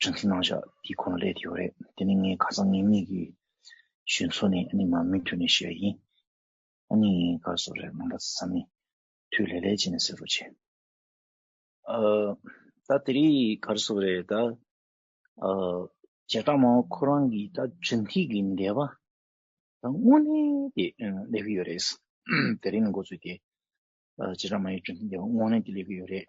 དྲན་གསོ་གནང་བཞག་དེ་ཁོ་ན་ལས་དེ་ཡོད་རེད་དེ་ནི་ངའི་ཁ་སང་ངེད་གཉིས་ཀྱི་ཞུན་མཚོ་ནས་ཨ་ནི་མ་མོའི་དུས་ནས་ཤེས་པ་ཡིན་ཨ་ནི་ངའི་སྐར་གསོ་རེད་མ་འདྲ་ས་མི་དུས་ལས་ལས་བྱེད་ནས་ཟེར་རོ་བྱས། ད་དེ་རིང་སྐར་གསོ་རེད་ད། བྱེ་བྲག་མ་འོངས་ཁོ་རང་གིས་ད་ཇུན་ཐིག་གི་འདས་པ་ད་དངོས་གནས་དེ་ལས་ཀྱི་ཡོད་རེད། དེ་རིང་ལ་འགོ་ཚུགས་ཏེ་བྱེ་བྲག་མ་ཡི་ཇུན་ཐིག་འདས་པ་དངོས་གནས་དེ་ལས་ཀྱི་ཡོད་རེད།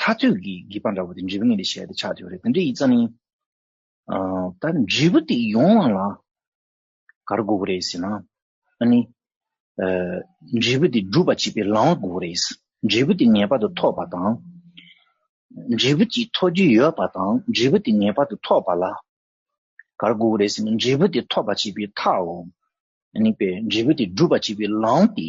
ཐག་ཐུག་གི་སྒེག་པ་འདྲ་བོ་དེ་འབྲས་བུ་ངན་དེ་བཤད་དེ་ཆགས་ཐུག་རེད་དེ་འདྲ་ཡིག་རྩ་ནི། ད་འབྲས་བུ་དེ་ཡོང་བ་ལ་གར་དགོས་པོ་རེད་ཟེར་ན། ཨ་ནི། འབྲས་བུ་དེ་སྒྲུབ་པ་བྱེད་པའི་ལམ་བ་དགོས་པོ་རེད། འབྲས་བུ་དེ་ངེས་པར་དུ་ཐོབ་པ་དང། འབྲས་བུ་གཅིག་ཐོབ་རྒྱུ་ཡོད་པ་དང་འབྲས་བུ་དེ་ངེས་པར་དུ་ཐོབ་པ་ལ་གར་དགོས་པོ་རེད་ཟེར་ན་འབྲས་བུ་དེ་ཐོབ་པ་བྱེད་པའི་ཐག་འོང། ཨ་ནི། འབྲས་བུ་དེ་སྒྲུབ་པ་བྱེད་པའི་ལམ་དེ་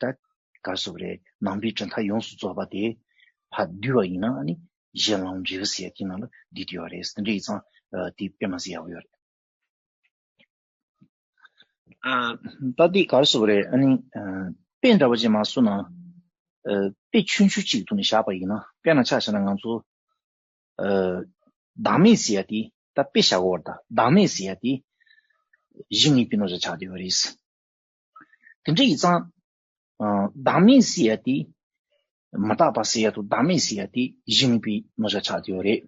ད་གར་སོགས་རེ་ནང་པའི་གྲུབ་མཐའ་ཡོངས་སུ་རྫོགས་པ་དེ་བ་བསྡུས་བ་ཡིན་ན་ནི་གཞན་ལམ་རྗེས་བུ་ཟེར་གྱི་ནང་ལ་བསྡུས་དེ་བ་རེད་ཟེར་འདྲི་ཡི་ཚང་དེ་དཔེ་མ་ཟེར་ཡག་པོ་ཡོད་རེད། ད་དེ་གར་སོགས་རེ་ཨ་ནི་དཔེ་འདྲ་བ་ཅིག་མ་བཟོ་ན་དཔེ་ཆུང་ཆུང་ཅིག་ཏུ་ནི་བཞག་པ་ཡིན་ན་དཔེ་སྣ་ཆ་བཞག་ན་ང་ཚོ་བདག་མེད་ཟེར་ཡ་དེ་ད་དཔེ་བཞག་གོ་བར་ད་བདག་མེད་ཟེར་ཡ་དེ་གཞི་ངེས་པའི་ནོར་བཞག་ཆགས་དེ་བ་རེད། དེ་འདྲ་ཡིག་ཚང་བདག་མེད་ཟེར་ཡ་དེ་མ་བརྟགས་པ་ཟེར་ཡ་དུ་བདག་མེད་ཟེར་ཡ་དེ་གཞི་མེད་པའི་ནོར་བྱ་ཆགས་དེའོ་རེད།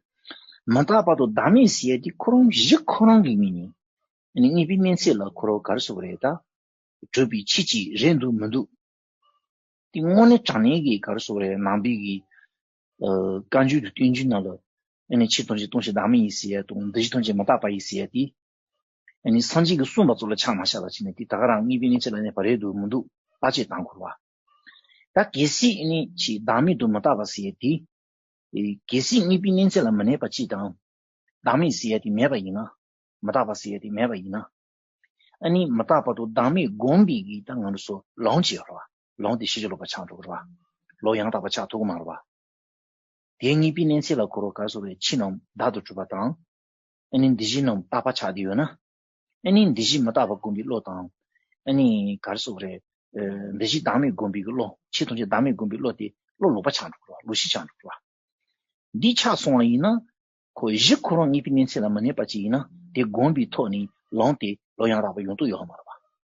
མ་བརྟགས་པ་དུ་བདག་མེད་ཟེར་ཡ་དེ་ཁོ་རང་གཞི་ཁོ་རང་གི་མིན་ནས། ནི་གཉིས་པའི་སྨན་ཚད་ལ་ཁོ་རང་གར་སོགས་རེད་ད། གྲོལ་བའི་ཆེད་ཅིག་རེད་འདུག་མི་འདུག། དེ་དངོས་གནས་དྲང་གནས་ཀྱི་གར་སོགས་རེད་ནང་པའི་གི། བཀའ་འགྱུར་དུ་བསྟན་རྒྱུ་རྣམས་ལ། ནི་ཕྱི་ཐོན་ཆེད་སྟོང་ཆེད་བདག་མེད་ཡིན་ཟེར་ཡ་དུ་འདི་གཞི་ཐོན་ཆེད་མ་བརྟགས་པ་ཡིན་ཟེར་ཡ་དེ། ཨེ་ནི་སངས་རྒྱས་ཀྱི་གསུངས་པ་གཙུག་ལག་ཕྱག་མ་ཤ་ལ་བྱིན་ནས་དེ་དག་རང་གཉིས་པའི་གནས་ཆེ་ལ་གནས་པ་རེ་དུ་མི་འདུག་ལྟ་ཅི་དང་འཁོར་བ་ད་གེ་སྲིད་ཨེ་ནི་ཕྱིའི་བདག་མེད་དུ་མི་ལྟ་བར་ཟེར་ཏེ། གེ་སྲིད་གཉིས་པའི་གནས་ཆེ་ལ་མི་གནས་པ་ཅི་དང། བདག་མེད་ཟེར་ཏེ་མེད་པ་ཡིན་ན། མི་རྟག་པ་ཟེར་ཏེ་མེད་པ་ཡིན་ན། ཨེ་ནི་མི་རྟག་པ་དུ་བདག་མེད་བསྒོམས་པའི་གེགས་དང་ང་རོ་སོ་ལོང་ཅི་འཁོར་བ་ལོང་དེ་ཤེས་བྱ་ལོག་པ་ཆགས་འགྲོ་འཁོར་བ་ལོག་ཡང་དག་པ་ཆགས་ཐུག་མ་རོ་བ། དེ་གཉིས་པའི་གནས་ཆེ་ལ་འཁོར་བ་གར་སོང་བའི་ཕྱི་ནང་བདག་ཏུ་གྲུབ་པ་དང། ཨེ་ནི་འདི་བཞི་རྣམས་བརྟག་པ་ཆགས་བསྡུས་ཡོད་ན། ཨེ་ནི་འདི་བཞི་མི་རྟག་པར་བསྒོམ་པའི་བློ་དང། ཨེ་ནི་གར་སོགས་རེ། འདི་བཞི་བདག་མེད་བསྒོམ་པའི་བློ། ཕྱིས་ཐམས་ཅད་བདག་མེད་བསྒོམ་པའི་བློ་དེ་བློ་ལོག་པ་ཆགས་འགྲོ་གི་ལོ་བཞི་ཆགས་འགྲོ་གི་ལ། འདི་ཆགས་སོང་བ་ཡིན་ན། ཁོ་བཞི་ཁོ་རང་ཉིད་ཀྱི་གནས་ཚད་ལ་མི་གནས་པ་ཅིག་ཡིན་ན་དེ་བསྒོམ་པའི་ཐོག་ནས་ལངས་ཏེ་ལོ་ཡང་རག་པ་ཡོང་དུ་ཡོད་ཨ་མ་རེད་པ།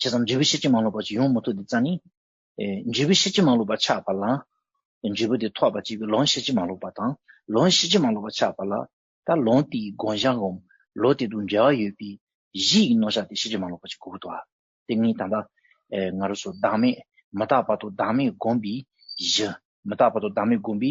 ཇི་ཙམ་འབྲས་བུ་ཤེར་ཕྱིན་མ་ལོག་པར་ཡོང་མི་ཐུབ་དེ་རྩ་ནི། འབྲས་བུ་ཤེར་ཕྱིན་མ་ལོག་པར་ཆགས་པ་ལ། འབྲས་བུ་དེ་ཐོགས་པ་གཅིག་གིས་ལོང་ཤེར་ཕྱིན་མ་ལོག་པ་དང་ལོང་ཤེར་ཕྱིན་མ་ལོག་པར་ཆགས་པ་ལ། ད་ལོང་དེའི་དགོངས་བཞག་འོམ་ལོ་དེ་དང་འབྲེལ་བ་ཡོད་པས་གཞི་ཡི་རྣོ་ཆ་དེ་ཤེར་ཕྱིན་མ་ལོག་པ་ཅིག་གོ་དགོས། དེ་གཉིས་ད་ལྟ། ང་རོ་སོགས་བདག་མེད་མི་རྟག་པ་དང་བདག་མེད་བསྒོམས་པའི་གཞི། མི་རྟག་པ་དང་བདག་མེད་བསྒོམས་པའི་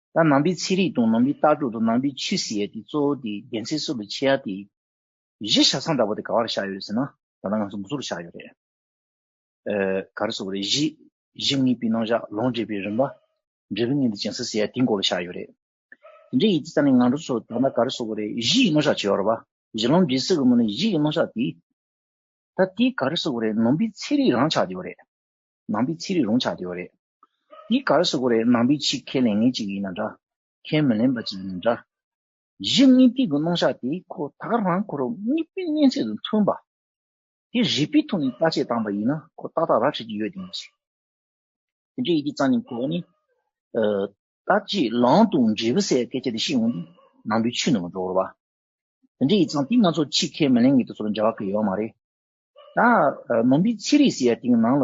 ད་ནང་པའི་ཚིག་རིགས་དང་ནང་པའི་ལྟ་གྲུབ་དང་ནང་པའི་ཆོས་སྲིད་དེ་གཙོ་བོ་དེ་རྒྱལ་མཚན་གསོ་བའི་ཆེད་ཡག་དེ། གཞི་ཞག་སང་འདྲ་བོ་དེ་ག་བར་བཞག་ཡོད་ཟེར་ན་ད་ལྟ་ང་ཚོ་མགོ་ཚུགས་ཆགས་ཡོད་རེད། ག་རེ་སོགས་རེད་གཞི་གཞི་གཉིས་པའི་ནང་བཞག་ལོངས་སྤྱོད་པའི་རིམ་པ། འབྲས་བུ་གཉིས་དེ་ཅན་སྲིད་ཟེར་ཡག་དེའི་མགོ་ལ་ཆགས་ཡོད་རེད། དེ་འདྲའི་ཡིག་ཆ་ཙམ་ལས་ང་ཚོ་ཚོ་ད་ལྟ་ག་རེ་སོགས་རེད་གཞི་ཡི་ནང་བཞག་བྱས་ཡོད་རེད་པ། གཞི་ལོངས་སྦྱིན་སྲིད་གི་མོ་ནི་གཞི་ཡི་ནང་བཞག་དེ། ད་དེ་ག་རེ་སོགས་རེད་ནང་པའི་ཚིག་རིགས་རང་ཆགས་ཀྱི་ཡོད་རེད། ནང་པའི་ཚིག་རིགས་རང་ཆགས་ཀྱི་ཡོད་རེད། འདི་གར་སོ་གོ་རེ་ནང་པའི་ཆེད་ཁས་ལེན་ངེས་ཅིག་ཡིན་ན་འདྲ། ཁས་མི་ལེན་པ་ཅིག་ཡིན་ན་འདྲ། གཞི་དངོས་ཐིག་གི་རྣོ་ཞགས་དེ་ཁོ་ཐག་རང་ཁོ་རང་དམིགས་པའི་གཉན་ཚད་དང་མཐུན་པ། དེ་རིག་པའི་ཐོག་ནས་བརྟག་དཔྱད་བཏང་པ་ཡིན་ན་ཁོ་ཏག་ཏག་རག་བྱེད་ཀྱི་ཡོད་དེ་མ་ཟད། དེ་འདྲའི་ཡི་གེ་གཙང་ཉམས་ཁོ་ནས། བརྟག་དཔྱད་ལམ་དུ་འབྲས་བུ་གསལ་བའི་སྐད་ཆ་དེ་ཤེས་འོང་དུས་ནང་པའི་ཆོས་ནང་མ་འགྲོ་བར། དེ་འདྲའི་ཡིག་ཚང་དེ་ང་ཚོ་ཆེད་ཁས་མི་ལེན་ངེས་དེ་ཚོར་འབྱར་བ་ཁོ་ཡོད་མ་རེད། ད། ནང་པའི་ཚིག་རིས་ཟེར་ཡ་དེའི་ནང་ལ།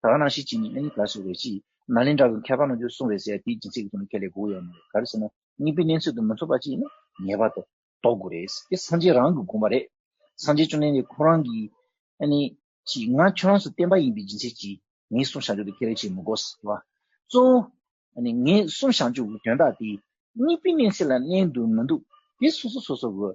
ད་གནང་ཤིག་ཅེས་ནི་ཨ་ནི་གར་སོགས་རེད་ཅེས་ནཱ་ལེནྡྲ་གི་མཁས་པ་རྣམས་ཀྱིས་གསུང་བས་ཟེར་དེའི་སྦྱིན་སྲེག་གི་དོན་ཁས་ལེན་དགོས་ཡོད་མ་རེད་ག་རེ་ཟེར་ན་སྙིང་པོའི་གནས་ཚུལ་དུ་མི་འཚོགས་པ་ཅིག་ཡིན་ན་ངེས་པར་དུ་འདོགས་དགོས་རེད། དེ་སངས་རྒྱས་རང་གིས་དགོངས་པ་རེད། སངས་རྒྱས་བཅོམ་ལྡན་འདས་ཁོང་རང་གིས་ཨ་ནི། ཅེས་ང་ཁྱོད་རང་སུ་བསྟན་པ་ཡིན་པའི་སྦྱིན་སྲེག་ཅིག་ངའི་གསུང་བྱང་ཆུབ་ཏུ་ཁས་ལེན་བྱེད་མི་དགོས་ཟེར་བ། གཙོ་བོ། ཨ་ནི་ངའི་གསུང་བྱང་ཆུབ་ཀྱི་དོན་དག་དེ། སྙིང་པོའི་གནས་ཚད་ལ་གནས་འདུག་མི་འདུག་དེ་སོ་སོ་སོ་སོར་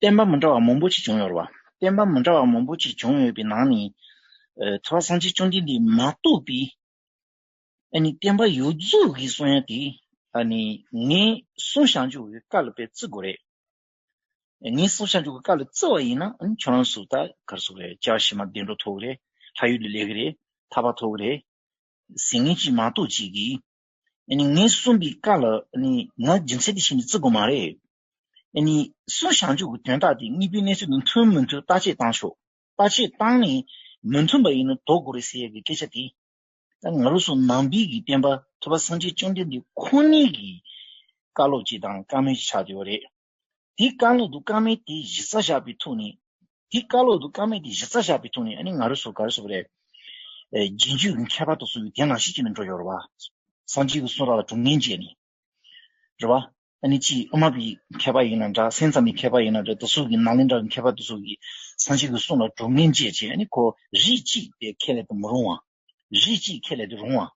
བསྟན་པ་མི་འདྲ་བ་མང་པོ་ཅིག་བྱུང་ཡོད་རེད། བསྟན་པ་མི་འདྲ་བ་མང་པོ་ཅིག་བྱུང་ཡོད་པའི་ནང་ནས། ཚོགས་པ་གསང་ཆེན་བཅོམ་ལྡན་འདས་མ་གཏོགས་པའི། ཨ་ནི་བསྟན་པ་ཡོད་རྫུས་ཀྱི་གསུང་ཡང་དེ། ཨ་ནི་ངས་གསུང་བཤགས་འཇུག་གི་བཀའ་ལ་དཔེ་བརྩི་དགོས་རེད། ངས་གསུང་བཤགས་འཇུག་གི་བཀའ་ལ་བརྩི་བ་ཡིན་ན་ཁྱོད་རང་སུ་ད་གར་སུ་རེད་ལྕགས་བྱི་མ་བདེ་འགྲོ་ཐོབ་གི་རེད་ལྷ་ཡུལ་ལ་སླེབས་གི་རེད་ཐར་པ་ཐོབ་གི་རེད། ཟེར་ངེས་ཅིག་མ་གཏོགས་ཅིག་གིས། ཨ་ནི་ངས་གསུངས་པའི་བཀའ་ལ་ཨ་ནི་ང་རྒྱུ་མཚན་དེ་བྱས་ནས་བརྩི་དགོས་མ་རེད། ཨ་ནི། སུའུ་ཞང་ཆུ་བོའི་དོན་དག་དེ་གཉིས་པོའི་གནས་ཚུལ་དང་མཐུན་མི་མཐུན་བརྟག་དཔྱད་བཏང་ཆོག་བརྟག་དཔྱད་བཏང་ནས་མི་མཐུན་པ་ཡིན་ན་དོགས་དགོས་རེད་ཟེར་ཡག་གི་སྐད་ཆ་དེ་ད་ང་རོ་སོ་ནང་པའི་གི་བསྟན་པ་ཐོས་པ་སངས་རྒྱས་བཅོམ་ལྡན་འདས་ཁོ་ནས་གི་བཀའ་སློབ་ཅིག་དང་བཀའ་མོལ་ཅིག་ཆགས་བསྡད་པ་རེད་དེ་བཀའ་སློབ་དང་བཀའ་མོལ་དེ་གཞི་རྩ་བཞག་པའི་ཐུགས་ནས་དེ་བཀའ་སློབ་དང་བཀའ་མོལ་དེ་གཞི་རྩ་བཞག་པའི་ཐུགས་ནས་ཨ་ནི་ང་རོ་སོ་ག་རོ་སོ་བ་རེད་རྒྱན་གཅོད་གི་མཁས་པ་དང་སོ་ཡོད་དེ་ནང་བཞིན་གྱི་ནས་འགྲོ་ཡོང་རོགས་བ། སངས་རྒྱས་ཀྱི་གསུང་རག་ལ་དྲུག་ནན་བཅད་ནས་རེད། རེད་བ། ཨ་ནི་ཅིའི་ཨུ་མ་པི་ཡི་མཁས་པ་ཡིན་ན་འདྲ་སེམས་ཙམ་ཡི་མཁས་པ་ཡིན་ན་འདྲ་དུ་སུག་གི་ནཱ་ལེནྡྲ་ཡི་མཁས་པ་དུ་སུག་གི་སངས་ཆེན་གྱི་གསུང་ལ་གྲུབ་ངན་ཅེས་བྱས་ཨ་ནི་ཁོ་རིགས་གཅིག་པའི་ཁས་ལེན་དུ་མི་རུང་བ། རིགས་གཅིག་ཁས་ལེན་དུ་རུང་བ།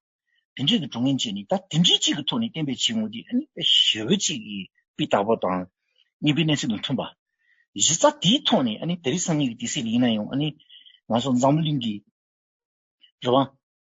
དེ་འདྲས་ཀྱི་གྲུབ་ངན་ཅེས་ནི་ད་དེ་འདྲས་གཅིག་གི་ཐོག་ནས་བསྟན་པའི་བྱེད་དངོས་དེ་ཨ་ནི་ཞི་བའི་གཅིག་གི་པི་དག་པོ་དང་གཉིས་པའི་གནས་ཚུལ་དང་མཐུན་པ། གཞི་རྩ་དེའི་ཐོག་ནས་ཨ་ནི་དེ་རིགས་སངས་ངེས་ཀྱི་དེ་སྲིད་ལ་ཡིན་ན་ཡང་ཨ་ནི་ང་ཚོ་འཛམ་བུ་གླིང་གི། རེད་བ།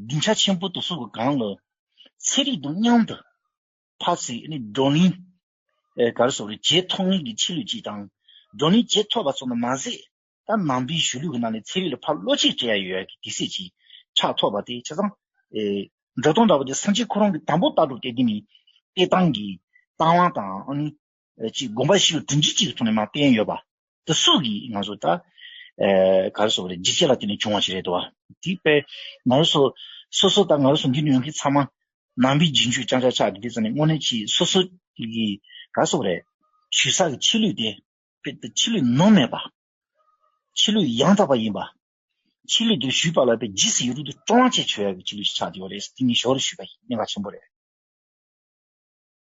རྒྱུན་ཆ་ཆེན་པོ་དུ་སོགས་ཀྱི་སྒང་ལ། ཚེ་རིག་དུག་མཉམ་དུ་འཕགས་ཚེ་བགྲོ་གླེང། གར་སོགས་རིག་བྱེད་ཐོགས་མེད་ཀྱི་ཕྱི་ལུས་ཀྱིས་དང། བགྲོ་གླེང་བྱེད་ཐོགས་པ་སོགས་ནི་མ་ཟད། ད་ནང་པའི་གཞུ་ལུས་ཀྱི་ནང་ནས་ཚེ་རིག་ལ་ཕ་བློ་ཆེ་བྲལ་ཡོད་ཀྱི་དེ་སྲིད་ཀྱི་ཕྱག་ཐོགས་པ་དེ་ཆ་ཚང། སྒྲོ་མདོང་འདྲ་བོ་དེ་སངས་རྒྱས་ཁོ་རང་གི་དང་པོ་ལྟ་གྲུབ་སྟེ་འདི་ནི་སྟེ་ཏང་གི་ཏང་དབང་དང། གཅིག་དགོངས་པ་ཞིག་དྲིན་གྱིས་གཅིག་ཐོག་ནས་མ་བསྟན་ཡོད་པ། དེ་སུ་གིས་ང་ཚོ་ད་ག་རེ་སོགས་རེད་འཇིགས་བྱེད་ལ་བརྟེན་ནས་བྱུང་བ་ཞིག་རེད་དོ། དེ་པས་ང་རེ་སོ་སོ་སོ་དང་ང་རེ་སོ་འདི་ནས་ཡོང་མཁན་ཚང་མ་ནང་པའི་རྗེས་འཇུག་རྐྱང་ཆག་ཆག་གི་དེ་ཙམ་ནས་དངོས་གནས་ཀྱིས་སོ་སོ་གི་ག་རེ་སོགས་རེད། ཆོས་ས་གི་ཆེད་ལུས་དེ། དཔེར་ན་ཆེད་ལུས་ནོར་མེད་པ། ཆེད་ལུས་ཡང་དག་པ་ཡིན་པ། ཆེད་ལུས་དེ་ཞུས་པ་ལ་པའི་རྗེས་སུ་ཡིད་རུས་དུ་སྤྲོ་བ་བཅས་བྱོས་ཡག་གི་ཆེད་ལུས་ཤིག་ཆགས་བསྡད་པ་རེད་དེ་ནི་ཞོར་ལས་ཞུས་པ་ཡིན་གནད་འགག་ཆེན་པོ་རེད།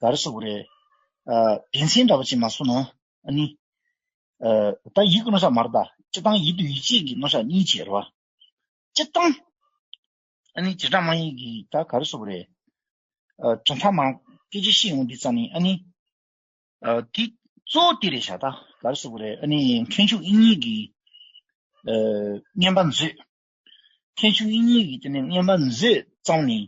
ག་རེ་ཟོ་གི་རེད། དགེ་མཚན་འདྲ་པོ་ཅིག་མ་བཟོ་ན་ཨ་ནི། ད་ཡིག་གི་སྣོ་ཤ་མ་རེད་ད། སྤྱི་བཏང་ཡིག་དུས་ཡིག་ཆས་ཀྱི་སྣོ་ཤ་གཉིས་བྱས་རེད་བ། སྤྱི་བཏང། ཨ་ནི་བྱེ་བྲག་དམངས་ཡིག་གི་ད་ག་རེ་ཟོ་གི་རེད། དྲ་མཐའ་མང། སྐད་ཆ་ཤེས་ཡོང་འདི་རྩ་ནི་ཨ་ནི། དེ་གཙོ་བོ་དེ་རེད་ཤག་ད་ག་རེ་ཟོ་གི་རེད་ཨ་ནི་ཁྲེན་ཆུང་དབྱིན་ཡིག་གི། བརྔན་པ་མཛོད། ཁྱད་ཆོས་དབྱིངས་ཉིད་ཀྱི་དེ་ནས་བསྙེན་པར་མཛོད་བརྩམས་ནས།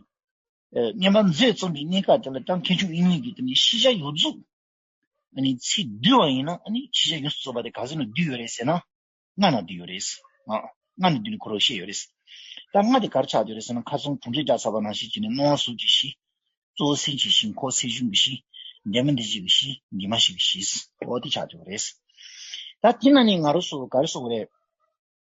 བསྙེན་པར་མཛོད་རྩོམ་པའི་གནས་སྐབས་དེ་ལ་ཀྱང་ཁྱད་ཆོས་དབྱིངས་ཉིད་ཀྱི་དེ་ནས་ཤེས་བྱ་ཡོད་རྫོགས། ཚིག་བསྡུས་བ་ཡིན་ན་ཤེས་བྱ་ཡོད་རྫོགས་པ་དེ་ག་ཚོད་ནས་བསྡུས་ཡོད་རེད་ཟེར་ན། ལྔ་ནས་བསྡུས་ཡོད་རེད། ལྔ་ནས་བསྡུས་ནས་གོ་རོགས་བཤད་ཡོད་རེད། ད་ལྔ་དེ་གར་ཆགས་ཡོད་རེད་ཟེར་ན་མཁར་རྫོང་གྲོང་ཁྲེགས་བརྒྱ་ཚར་བ་ན་ཤེས་བྱེད་ནི་སྣང་བ་གཟུགས་ཀྱི་གཞི། གཙོ་བོ་སེམས་ཀྱི་གཞི་འཁོར་སེམས་གཞུང་གི་གཞི། འདས་མ་འདས་རྗེས་ཀྱི་གཞི་འདས་མ་ཞིག་གི་གཞི། ཨོ་དེ་ཆགས་ཡོད་རེད། ད་དེ་ན་ནི་ང་རོ་སོགས་ག་རེ་སོགས་རེད།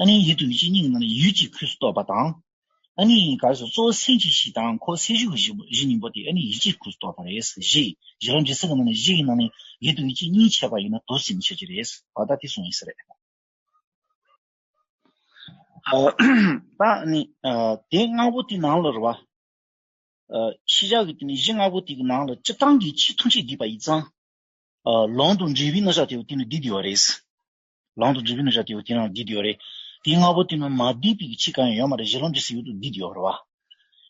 ཨ་ནིའི་ཡིད་དུ་མི་བྱེད་སྙིང་གི་ནང་ནས་ཡུད་ཀྱིས་ཁོས་སུ་གཏོགས་པ་དང། ཨ་ནིའི་གར་སོགས་གཙོ་བོ་སེམས་ཀྱི་གཞི་དང་ཁོ་སེམས་གཞུག་གི་གཞི་གཉིས་པོ་དེ་ཨ་ནིའི་ཡིད་ཀྱིས་ཁོས་སུ་གཏོགས་པ་རེད། གཞི་གཞི་རང་གི་སེམས་ཀྱི་ནང་ནས་གཞི་ཡི་ནང་ནས་ཡིད་དུ་མི་བྱེད་སྙིང་བྱས་པ་ཡིན་ན་དུག་སེལ་མི་བྱེད་ཀྱི་རེད། བར་ཐག་དེ་སོང་ཡིན་ས་རེད། ད་ནི་དེ་ལྔ་པོ་དེ་ནང་ལོ་རེ་བ། ཤེས་བྱ་གི་དེ་ནི་གཞི་ལྔ་པོ་དེ་གི་ནང་ལ་སྤྱི་བཏང་གི་ཕྱི་ཐུགས་རྗེས་བསྡུས་པ་ཡིན་ཙང། ལོང་དང་འབྲས་བུའི་རྣམ་གཞག་དེ་བས་དེ་ནི་བསྡུས་བསྡུས་བ་རེད། ལང་དུ་རྫུ་བུ་ནི་ར་དེའུ་དེ་རང་བསྡིགས་དེའོ་རེད། དེའི་སྔ་པོ་དེ་ནི་མ་བསྡིགས་པའི་ཕྱིས་གང་ཡང་ཡོད་མ་རེད་གཞི་ལམ་གྱི་སྲིད་ཡུལ་དུ་བསྡིགས་དེའོ་རེད་བ།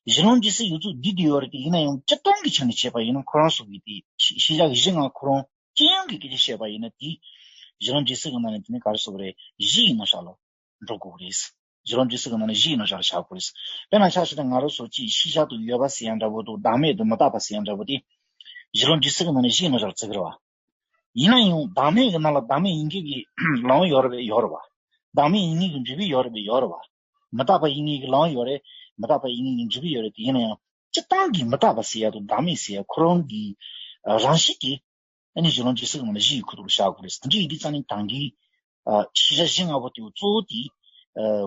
གཞི་ལམ་གྱི་སྲིད་ཡུལ་དུ་བསྡིགས་དེའོ་རེད་དེ་ཡིན་ན་ཡང་སྤྱི་སྟོང་གི་ཆ་ནས་བྱས་པ་ཡིན་ན་ཁོ་རང་སོགས་ཀྱིས་དེ་ཤེས་བྱ་གཞི་ལྔ་ཁོ་རང་ཅི་ཡང་གི་སྐད་ཆ་བཤད་པ་ཡིན་ན་དེ། གཞི་ལམ་གྱི་སྲིད་གི་ནང་ནས་དེ་ནི་ག་རེ་སོགས་རེད་གཞི་ཡིན་ན་བཞག་ལ་འགྲོ་དགོས་རེད། གཞི་ལམ་གྱི་སྲིད་གི་ནང་ནས་གཞི་ཡིན་ན་བཞག་ལ་བཞག་དགོས་རེད། དཔེར་ན་ཆགས་ཞེ་ན་ང་རང་སོགས་ཀྱིས་ཤེས་བྱ་དུ་ཡོད་པ་ཟེར་ཡང་འདྲ་པོ་འདུག་བདག་མེད་དུ་མི་རྟག་པ་ཟེར་ཡང་འདྲ་པོ་དེ། གཞི་ལམ་གྱི་སྲིད་གི་ནང་ནས་གཞི་ཡིན་ན་བཞག་ལ་བརྩི་གི་རེད་བ། ཡིན་ན་ཡང་བདག་མེད་ཀྱི་ནང་ལ་བདག་མེད་ཡིན་གྱི་གི་ལའང་ཡོད་རེད་པས་ཡོད་རེད་པ། བདག་མེད་ཡིན་ངེས་ཀྱི་འབྲས་བུས་ཡོད་རེད་པས་ཡོད་རེད་པ། མི་རྟག་པ་ཡིན་ངེས་ཀྱི་ལའང་ཡོད་རེད། མི་རྟག་པ་ཡིན་ངེས་ཀྱི་འབྲས་བུས་ཡོད་རེད་དེ་ཡིན་ན་ཡང་སྤྱི་བཏང་གི་མི་རྟག་པ་ཟེར་ཡ་དང་བདག་མེད་ཟེར་ཡ་ཁོ་རང་གི་རང་བཞིན་གྱིས་ཨ་ནི་གཞི་ལམ་ཇི་སྲིད་ངང་ལ་གཞི་ཡི་ཁུ་ཐུག་ལ་བཞག་དགོས་རེད། འདི་འདྲའི་ཡི་གེ་རྩ་ནི་དང་གི་ཤེས་བྱ་གཞི་ལྔ་པོ་དེའོ་གཙོ་བོ་དེ།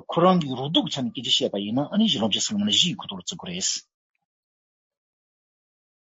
ཁོ་རང་གི་རོ་སྡུག་གི་ཆ་ནས་སྐད་ཅིག་བཤད་པ་ཡིན་ན་ཨ་ནི་གཞི་ལམ་ཇི་སྲིད་ངང་ལ་གཞི་ཡི་ཁུ་ཐུག་ལ་བརྩི་དགོས་རེད།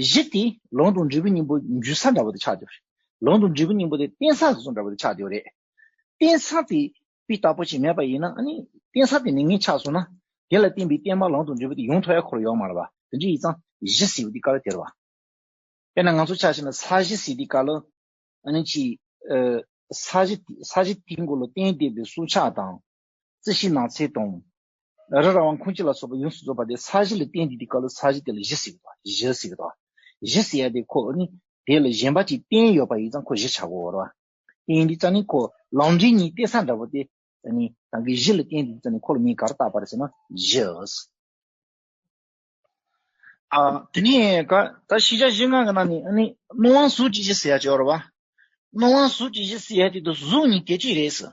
གཞི་དེ་ལུང་དང་འབྲས་བུའི་སྙིང་པོ་འཇུ་ས་འདྲ་བོ་དེ་ཆགས་ཡོད་རེད། ལུང་དང་འབྲས་བུའི་སྙིང་པོ་དེ་རྟེན་ས་སོ་སོ་འདྲ་བོ་དེ་ཆགས་ཡོད་རེད། རྟེན་ས་དེ་དཔེ་ལྟ་བུ་ཞིག་མེད་པ་ཡིན་ན་ཨ་ནི་རྟེན་ས་དེ་ནི་ངས་ཆགས་སོང་ན། དེ་ལ་བརྟེན་པའི་རྟེན་པ་ལུང་དང་འབྲས་བུ་དེ་ཡོངས་ཐོག་ཡ་འཁོར་ཡོག་མ་ལ་བ་དེ་འདྲ་ཡིན་ཙང་གཞི་ཟེར་བའི་དེ་ཀ་ལ་དེར་བ། དཔེར་ན་ང་ཚོ་ཆགས་ཤིག་ན་ས་གཞི་ཟེར་དེ་ཀ་ལ་ཨ་ནི་ཆེས། ས་གཞི་དེའི་མགོ་ལ་རྟེན་བསྡེབས་པའི་སྲོག་ཆགས་དང། རྩི་ཤིང་ནགས་ཚལ་དང། རི་ར་བ་ཁུང་ཅི་ལ་སོགས་པ་ཡོངས་སུ་རྫོགས་པ་དེ་ས་གཞི་ལ་བརྟེན་ཏེ་དེ་སྐབས་ལ་ས་གཞི་དེ་ལ་གཞི་ཟེར་གྱི། གཞི་ཟེར་གྱི། གཞི་ཟེར་ཡ་དེ་ཁོ་ནི་དེ་ལ་གཞན་པ་ཅིག་བརྟེན་ཡོད་པ་ཡིན་ཙང་ཁོ་གཞི་ཆགས་གོ་བར་བ། བརྟེན་ཏེ་ཙང་ནི་ཁོ་ལམ་འབྲས་གཉིས་ཏེ་ས་འདྲ་བོ་སྟེ། ཙང་ནི་ཙང་གི་གཞི་ལ་བརྟེན་ཏེ་ཙང་ནི་ཁོ་ལ་མིང་གར་བཏགས་པར་ཟེར་ན་གཞི། དེ་ནས་ཀ་ད་ཤི་ཤ་ཤི་ང་གི་ན་ནི་ཨ་ནི་སྣོད་དབང་གཟུགས་ཀྱི་གཞི་ཟེར་ཡ་ཅི་བར་བ། སྣོད་དབང་གཟུགས་ཀྱི་གཞི་ཟེར་ཡ་དེ་དུ་གཟུགས་ནི་དེ་ཅི་རེད་ཟེར།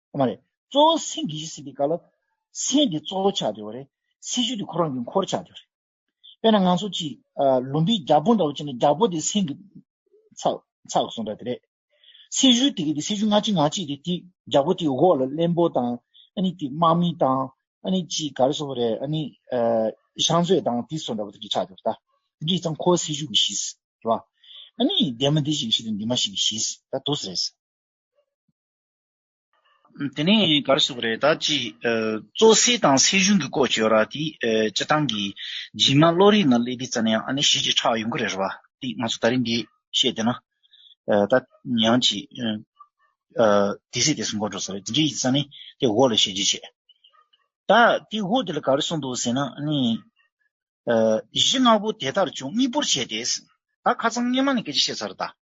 ཨོ་མ་རེད། གཙོ་བོ་སེམས་ཀྱི་ཡིད་སྲིད་པའི་སྐལ་ལ། སེམས་དེ་གཙོ་བོ་ཆགས་འདོད་པ་རེད། སྲིད་ཞུ་དེ་ཁོ་རང་གི་འཁོར་ཆགས་འདོད་རེད། དཔེར་ན་ང་ཚོ་གཅིག། ལུམ་བིའི་རྒྱ་སྤོ་འདྲ་བོ་བྱས་ན་རྒྱ་སྤོ་དེ་སེམས་ཀྱི། ཚགས་ཚགས་སོང་འདྲ་དེ་རེད། སྲིད་ཞུ་དེ་ག་དེ་སྲིད་ཞུ་ང་གཅིག་ང་གཅིག་དེ་དེ་རྒྱ་སྤོ་དེ་འོག་ལ་གླེན་པོ་དང། ཨ་ནི་དེ་དམག་མི་དང། ཨ་ནི་གཅིག་ག་རེ་སོང་བ་རེད་ཨ་ནི། ཤང་ཚོད་དང་དེ་སོང་འདྲ་བོ་དེ་གི་ཆགས་འདོད་ད། དེ་གི་ཚང་ཁོ་སྲིད་ཞུ་གི་གཞི། རེད་བ། ཨ་ནི་འདས་མ་འདས་ཞིག་གི་གཞི་དང་འདས་མ་ཞིག་གི་གཞི། ད་དུ་ས་རེད། དེ་ནས་ག་རེ་ཟེར་བ་རེད་ད་ཅི། བཙོ་བསྲེག་དང་སྲེག་གཞུང་གི་སྐོར་བྱོས་ར་དེ་སྤྱི་བཏང་གི་རྗེས་མ་བློ་རིག་ན་སླེ་དེ་རྩ་ན་ཡང་ཨ་ནི་གཞི་ཅིག་ཁྲག་ཡོང་གི་རེད་ར་བ་དེ་ང་ཚོ་ད་རིང་འདི་བཤད་དེ་ན་ད་ཡང་ཅི། དེ་སྲེག་དེ་སྲུང་ག་འགྲོ་ས་རེད་དེ་འདྲ་ཡིན་ས་ནི་དེ་འོག་ལ་ཤེས་རྗེས་བྱས། ད་དེ་འོག་དེ་ལ་ག་རེ་གསུང་འདུག་ཟེར་ན་ཨ་ནི། གཞི་ནག་པོ་དེ་ལྟར་བྱུང་གཉིས་པོར་བྱས་ཏེ། ད་ཁ་ཚང་སྔས་མ་ནས་སྐད་ཆ་བཤད་ཚར་ར་ད།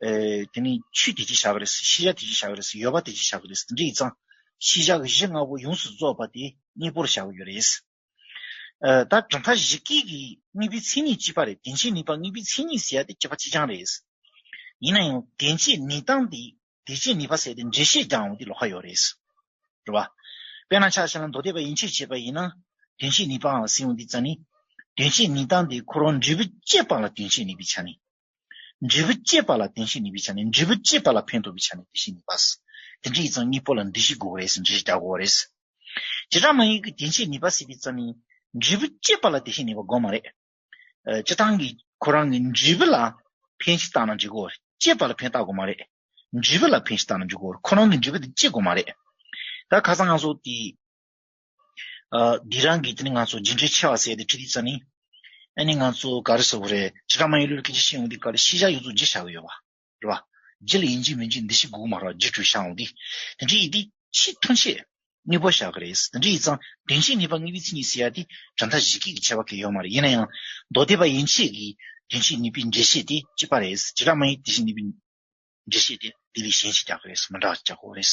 དེ་ནི་ཆུ་དེ་ཅི་བྱ་གི་རེད། ཤེས་བྱ་དེ་ཅི་བྱ་གི་རེད། ཡོད་པ་དེ་ཅི་བྱ་གི་རེད། འདི་ཡི་གཙང། ཤེས་བྱ་གཞི་ལྔ་པོ་ཡོངས་སུ་རྫོགས་པ་དེ་གཉིས་པོར་བྱ་གི་ཡོད་རེད། ད་གྲངས་ཀ་བཞི་སྐད་ཀྱི་དངོས་པོའི་མཚན་ཉིད་གཅིག་པ་རེད། དེ་འཕྱེ་ནུས་པ་དངོས་པོའི་མཚན་ཉིད་ཟེར་ཡ་དེ་སྐྱེས་པ་གཅིག་རྐྱང་རེད། ཡིན་ན་ཡང་དེ་འཕྱེ་ནུས་སྟངས་དེ་དེ་འཕྱེ་ནུས་པ་ཟེར་ཏེ་འགྲེལ་བཤད་རྒྱག་འོང་དུས་ལོག་ཁ་ཡོད་རེད། རེད་པ། དཔེར་ན་ཆ་ཤས་ལ་མདོ་སྡེ་པ་ཡིན་ཕྱིར་བྱས་པ་ཡིན་ན། དེ་འཕྱེ་ནུས་པའང་ཟེར་འོང་དུས་ཙང་ནི། དེ་འཕྱེ་ནུས་སྟངས་དེ་ཁོ་རང་འབྲས་བུ་སྐྱེས་པ་ལ་དེ་འཕྱེ་ནུས་པའི་ཆ་ནས་འབྲས་བུ་སྐྱེད་པ་ལ་བདེན་བཞི་ནུས་པའི་ཆ་ནས་འབྲས་བུ་སྐྱེད་པ་ལ་ཕན་འདོགས་པའི་ཆ་ནས་དེ་བཞིན་ནུས་པ། དེ་འདྲ་ཡིག་ཚང་གཉིས་པོ་ལ་འདི་བཞི་དགོས་པ་རེད་ཟེར་འདྲི་གཞི་རྒྱག་དགོས་པ་རེད། བྱེ་བྲག་དམངས་ཡིག་གི་དེ་འཆད་ནུས་པ་ཟེར་བའི་རྩ་མིང། འབྲས་བུ་སྐྱེད་པ་ལ་དེ་བཞིན་ནུས་པ་དགོས་མ་རེད། སྤྱི་བཏང་གིས་ཁོ་རང་གིས་འབྲས་བུ་ལ་ཕན་བཞི་བཏགས་ན་འཇིག་གོ། སྐྱེད་པ་ལ་ཕན་བཏགས་དགོས་མ་རེད། འབྲས་བུ་ལ་ཕན་བཞི་བཏགས་ན་འཇིག་གོ། ཁོ་རང་གིས་འབྲས་བུ་དེ་སྐྱེད་དགོས་མ་རེད། ད་ག་ཚང་ང་ཚོ་དེ། འདི་རང་གིས་ང་ཚོ་ཇི་འདྲའི་ཆེ་བ་བསད་དེ་ཁྲིད་དེ་ཙནི། ཨ་ནི་ང་ཚོ་ག་རེ་ཟེར་བ་རེད་ཇི་ལྟར་མ་ཡིན་ལུས་ཀྱི་ཇི་ཤེས་འོང་དེ་ག་རེ་ཤེས་བཞག་ཡོད་ཚོ་ཇི་བྱ་གི་ཡོད་བ་རེད་བ། ཇི་ལ་ཡིན་ཇི་མིན་ཇི་འདི་ཞིག་གུག་མ་རོག་ཇི་བྲོས་བཞག་འོང་དེ། དེ་འདྲའི་ཡིད་དེ་ཆེས་ཐོན་ཆེས་གཉིས་པོ་བཞག་གི་རེད་དེ་འདྲའི་ཡིད་ཙང་དོན་ཆེས་གཉིས་པ་གཉིས་པའི་ཚིག་གཉིས་ཟེར་ཡ་དེ་གྲ་མཐའ་གཞི་སྐད་ཀྱི་ཆེ་བ་གལ་ཡོད་མ་རེད་ཡིན་ན་ཡང་མདོ་སྡེ་པ་ཡིན་ཆེས་ཀྱི་དོན་ཆེས་གཉིས་པའི་འགྲེལ་བཤད་དེ་གཅིག་པ་རེད་ཇི་ལྟར་མ་ཡིན་དེ་བཞིན་གཉིས་པའི་འགྲེལ་བཤད་དེ་དེ་ལས་གཞན་ཞིག་རྒྱག་གི་རེད་མི་འདྲ་བ་རྒྱག་དགོས་རེད།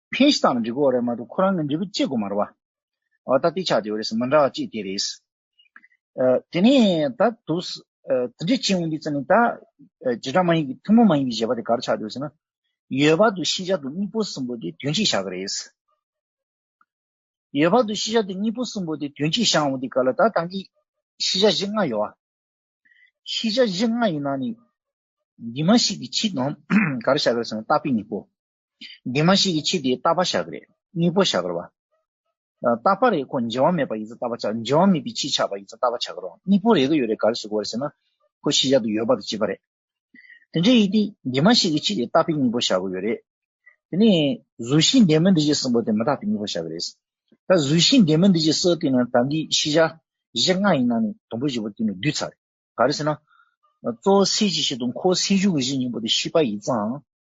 ཕན་གཞི་དང་ལ་འགྲིག་གོ་རེད་མ་གཏོགས་ཁོ་རང་གི་འབྲས་བུ་གཅེས་དགོས་མ་རེད་བ། ཨོ་ད་ལྟའི་ཆ་དེ་བས་རེས་མི་འདྲ་བ་གཅིག་དེ་རེད། དེ་ནས་ད་དུ། དེ་འདྲའི་སྤྱི་འོས་འདི་བརྩི་ནས་ད། བྱེ་བྲག་མ་ཡིན་གྱི་ཐུན་མོང་མ་ཡིན་གྱི་བཞེད་པ་དེ་གར་ཆགས་དགོས་ཟེར་ན། ཡོད་བར་དུ་ཤེས་བྱ་དེ་གཉིས་པོ་གསུམ་པོ་དེ་དོན་གཅིག་བཞག་གི་རེད། ཡོད་བར་དུ་ཤེས་བྱ་དེ་གཉིས་པོ་གསུམ་པོ་དེ་དོན་གཅིག་བཞག་འོང་དུས་ག་ལ་ད་ད་གིས། ཤེས་བྱ་གཞི་ལྔ་ཡོད་བ། ཤེས་བྱ་གཞི་ལྔ་ཡིན་ན་ནི། འདི་མ་ཤེས་ཀྱི་ཕྱིར་ནམ་གར་བཞག་གི་རེད་ཟེར་ན་རྟགས་དཔེ་གཉིས་པོ། སྡིག་མ་ཞིག་གི་ཕྱིར་དེ་ལྟ་བ་ཞག་རེད་གཉིས་པོ་ཞག་རོ། ལྟ་བ་རེད་ཁོ་འཇལ་བ་མེད་པ་ཡིན་ཚ་ལྟ་བ་ཆགས་འཇལ་བ་མེད་པའི་ཕྱིར་ཆགས་པ་ཡིན་ཚ་ལྟ་བ་ཆགས་རོ་གཉིས་པོ་རེད་གི་ཡོད་རེད་ག་རེ་ཞིག་གོ་རེད་ཟེར་ན། ཁོ་ཤི་ཤག་ཏུ་ཡོད་པ་དང་བྱིས་པ་རེད། དེ་འདྲའི་ཡིན་ཏེ་སྡིག་མ་ཞིག་གི་ཕྱིར་དེ་ལྟ་བས་གཉིས་པོ་ཞག་གི་ཡོད་རེད། དེ་ནས་གཟུགས་ཤིང་འདི་མི་འདི་ཞེས་གསུངས་པ་དེ་མི་རྟག་པས་གཉིས་པོ་ཞག་གི་རེད། ད་གཟུགས་ཤིང་འདི་མི་འདི་ཞེས་གསལ་བསྟན་ན་ད་འདིའི་ཤི་ཤག་བཞི་ལྔ་ཡི་ནང་ནས་དང་པོ་བཞི་པོ་དེ་ནི་བསྡུས་ཚར་རེད་ག་རེ་ཟེར་ན། གཙོ་བོ་སེལ་གྱི་ཤིག་དང་ཁོ་སེལ་གཞུག་གི་ཤིག་གཉིས་པོ་དེ་ཤི་བ་ཡིན་ཚའང་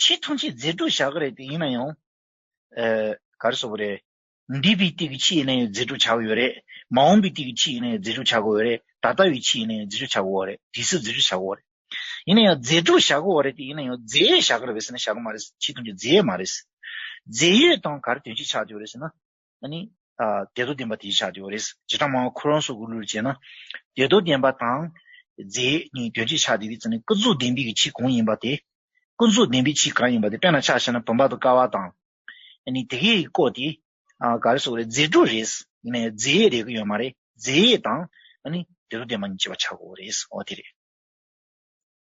ཆེས་ཐང་ཆེས་མཛེས་སྒྲོག་བྱ་གི་རེད་དེ་ཡིན་ན་ཡང། ག་རེ་ཟོ་གི་རེད། འདས་པའི་དུས་ཀྱི་ཆེས་ཡིན་ན་ཡང་མཛེས་སྒྲོག་བྱ་གི་ཡོད་རེད། མ་འོངས་པའི་དུས་ཀྱི་ཆེས་ཡིན་ན་ཡང་མཛེས་སྒྲོག་བྱ་གི་ཡོད་རེད། ད་ལྟ་བའི་ཆེས་ཡིན་ན་ཡང་མཛེས་སྒྲོག་བྱ་གི་ཡོད་རེད། དུས་སུ་མཛེས་སྒྲོག་བྱ་གི་ཡོད་རེད། ཡིན་ན་ཡང་མཛེས་སྒྲོག་བྱ་གི་ཡོད་རེད་དེ་ཡིན་ན་ཡང་རྫས་ཡོད་བྱ་གི་རེད་བཟི་ན་བྱ་གི་མ་རེད། ཆེས་ཐང་ཆེས་རྫས་ཡོད་མ་རེད། རྫས་ཡོད་དང་ག་རེ་དོན་ཆེས་ཆགས་ཀྱི་ཡོད་རེད་ཟེར་ན། ནི། བདེ་སྡུག་བདེན་པ་དེ་ཆགས་དེའོ། རེས་བྱེ་བྲག་མང་བ་ཁོ་རང་སོགས་ཀུན་ལུས་ལ་བྱས་ན། བདེ་སྡུག་བདེན་པ་དང། རྫས་གཉིས་དོན་གཅིག་ཆགས་དེ། ཀུན་རྫོབ་བདེན་པའི་ཕྱིར་གང་ཡིན་པ་དེ། ཀུན་རྫོབ་བདེན་པའི་ཕྱིར་གང་ཡིན་པ་དེ་དཔེར་ན་ཆ་བྱས་ན་བུམ་པ་དང་ཀ་བ་དང། ནི། དེ་གའི་བཀོད་དེ། ག་རེ་སོགས་རེད། རྫས་དྲུག་རེད། ནི། རྫས་ཡས་རེག་གི་ཡོད་མ་རེད། རྫས་ཡས་དང། ནི། བདེ་སྡུག་བདེན་པ་གཉིས་བྱེད་པ་ཆགས་གོ། རེས་འོ་དེ་རེད།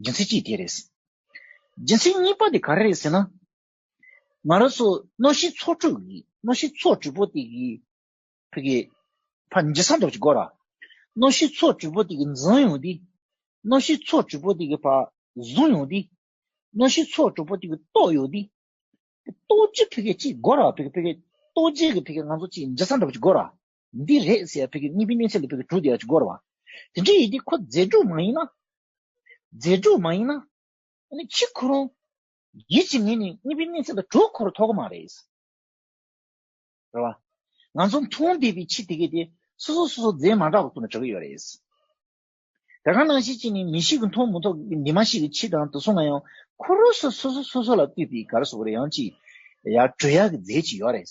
རྒྱུ་མཚན་གཅིག་དེ་རེད། རྒྱུ་མཚན་གཉིས་པ་དེ་ག་རེ་རེད་ཟེར་ན། ང་རང་ཚོ་གནོད་གཞིའི་ཚོགས་དྲུག་གི་གནོད་གཞིའི་ཚོགས་དྲུག་པོ་དེ་གི་ཕི་གེ། ཕ་མི་རྗེ་ས་མདོག་ཅིག་དགོས་ར། གནོད་གཞིའི་ཚོགས་དྲུག་པོ་དེ་གི་འཛིང་ཡོང་དུས། གནོད་གཞིའི་ཚོགས་དྲུག་པོ་དེ་གི་ཕ་བཟུང་ཡོང་དུས། གནོད་གཞིའི་ཚོགས་དྲུག་པོ་དེ་གི་ལྟོགས་ཡོང་དུས། ལྟོགས་རྒྱུའི་ཕི་གེ་གཅིག་དགོས་ར་ཕི་གེ་ཕི་གེ། ལྟོགས་རྒྱུའི་ཕི་གེ་ང་ཚོ་གཅིག་མི་རྗེ་ས་མདོག་ཅིག་དགོས་ར། འདི་རེད་ཟེར་བའི་གཉིས་པའི་གནས་ཚད་ལས་བོད་ཀྱི་དྲུག་བརྒྱ་ཅུ་སྐོར་བ། དེ་འདྲའི་ཡི་གེ་ཁོ་རྫས་དྲུག་མ་ཡིན་ན། རྫས་དྲུག་མ་ཡིན་ན། ཨ་ནི་ཁྱི་ཁོ་རང། ཡིད་ཀྱི་ངོས་ནས་གཉིས་པའི་གནས་ཚད་ལ་དྲུག་འཁོར་ཐོག་མ་རེད། རེད་བ། ང་ཚོ་མཐོང་བསྡད་པའི་ཁྱི་དེ་གའི་དེ་སོ་སོ་སོ་སོ་རྫས་མ་འདྲ་བ་ཁོ་ན་བྲི་གི་ཡོད་རེད། ད་ག་ནང་བཞིན་ཅིག་ནི་མི་ཞིག་གི་མཐོང་མི་ཐོག་གི་འདི་མ་ཞིག་གི་ཁྱི་དང་དུ་སོང་ན་ཡང་ཁོ་རོ་སོ་སོ་སོ་སོ་ལ་བཏུས་པའི་གར་སོགས་རེ་ཡང་ཅིག་ཡར་བྲི་ཡག་གི་རྫས་ཅིག་ཡོད་རེད།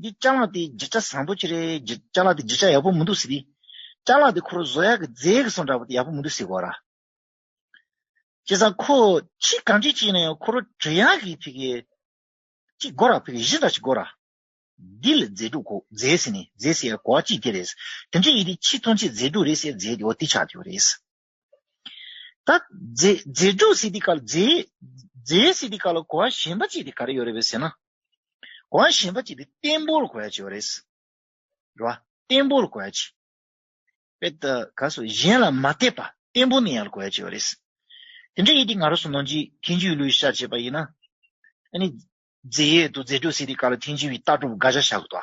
འདི་ལྕགས་ལ་དེ་བརྗིད་ཆ་བཟང་པོ་ཅི་རེད་བརྗིད་ལྕགས་ལ་དེ་བརྗིད་ཆ་ཡག་པོ་མི་འདུག་ཟེར་དུས། ལྕགས་ལ་དེ་ཁོ་རོ་བཟོ་ཡག་གི་རྫས་གི་སོང་འདྲ་པོ་དེ་ཡག་པོ་མི་འདུག་ཟེར་གོ་ར། བྱས་ཙང་ཁོ་ཁྱི་གང་ཁྱི་གཅིག་ཡིན་ན་ཡང་ཁོ་རོ་བྲོས་ཡག་གི་ཕི་གེ། གཅིག་དགོ་ར་ཕི་གེ་བཞི་འདྲ་ཞིག་དགོ་ར། འདི་ལ་རྫས་དྲུག་གོ་རྫས་ཟེར་ནས་རྫས་ཟེར་ཡ་གོ་བ་གཅིག་དེ་རེད། དེ་འདྲས་ཡིན་དུས་ཁྱི་མཐོང་ཆེད་རྫས་དྲུག་རེད་ཟེར་རྫས་དེ་འོ་དེ་ཆགས་དེ་འོ་རེད། ད། རྫས་འགྲུབ་སྲིད་དེ་ག་ལ། རྫས་སྲིད་དེ་ག་ལ་གོ་བ་གཞན་པ་གཅིག་དེ་ག་རེ་ཡོད་རེད་བས་ཟེར་ན། གོ་བ་གཞན་པ་གཅིག་དེ་བརྟན་པོར་གོ་བ་གཅིག་ཡོད་རེད། རེད་བ། བརྟན་པོར་གོ་བ་གཅིག། བས་ད་ག་སོ་གཞན་ལ་མ་བལྟས་པ་བརྟན་པོ་ནས་ཡར་གོ་བ་གཅིག་ཡོད་རེད། དེ་འདྲ་ཡིན་དེ་ང་རོ་སོ་ནོ་འཇིག་ཐེན་ཅུའི་ལུས་ཤ་བྱེད་པ་ཡིན་ན། ཨ་ནི། རྫས་ཡོད་དོ་རྫས་འགྲུབ་སྲིད་དེ་ག་ལ་ཐེན་ཅུའི་རྟགས་གྲུབ་དགའ་བྱ་བྱ་དགོས་དོ།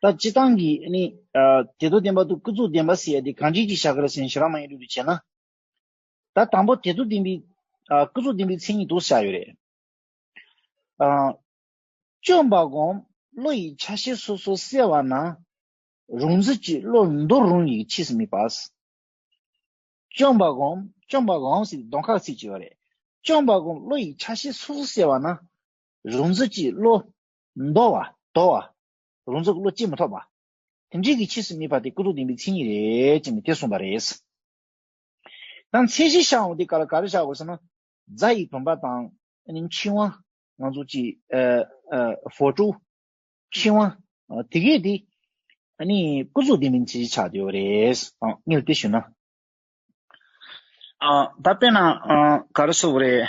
ད་སྤྱི་བཏང་གི་ནི། དེ་དུ་བདེན་པ་དུ་ཀུན་རྫོགས་བདེན་པ་སེ་ཡ་དེ་གང་བྱེད་ཅིག་བྱ་ག་ར་སེ་ན་ཞེ་རང་མ་ཡིན་རུ་དུ་བྱེད་ན། ད་དང་པོ་དེ་དུ་བདེན་པའི། ཀུན་རྫོགས་བདེན་པའི་མཚན་ཉིད་དུ་བྱ་ཡོད་རེད། བཅོམ་པ་སྒོམ་བློ་ཡི་ཆ་ཤས་སོ་སོ་གསལ་བ་ན། རུང་ཚིག་གཅིག་བློར་འདོར་རུང་ཡི་གེ་ཕྱིས་སུ་མི་སྦས། བཅོམ་པ་སྒོམ་བཅོམ་པ་སྒོམ་ཟེར་དོན་ཁག་ཚིག་གཅིག་བ་རེད། བཅོམ་པ་སྒོམ་བློ་ཡི་ཆ་ཤས་སོ་སོ་གསལ་བ་ན། རུང་ཚིག་གཅིག་བློ། མདོ་བ། དོ་བ། རུང་ཚུགས་བློ་སྐྱེད་མི་ཐོབ་པ། དེ་འབྲེལ་གྱི་ཕྱིས་སུ་རྨིས་པ་དེ་སྐུ་ཐུག་བདེན་པའི་མཚན་ཉིད་རེད་ཅེས་ནི་དེ་གསུངས་པ་རེད། དང་མཚན་གཞི་བཞག་འོང་དེ་ག་ལ་ག་རེ་བཞག་དགོས་ཟེར་ན། རྫ་ཡི་བུམ་པ་དང། ཕྱི་དབང། ང་ཚོ་ཅི། ཧྥོ་ཀྲུའུ། ཕྱི་དབང། དེ་གས་དེ། སྐུ་གཟུགས་བདེན་པའི་མཚན་གཞི་ཆགས་ཡོད་རེད། ངས་དེ་ཞུས་ན། ད་དཔེར་ན་ག་རེ་བཟོ་བ་རེད།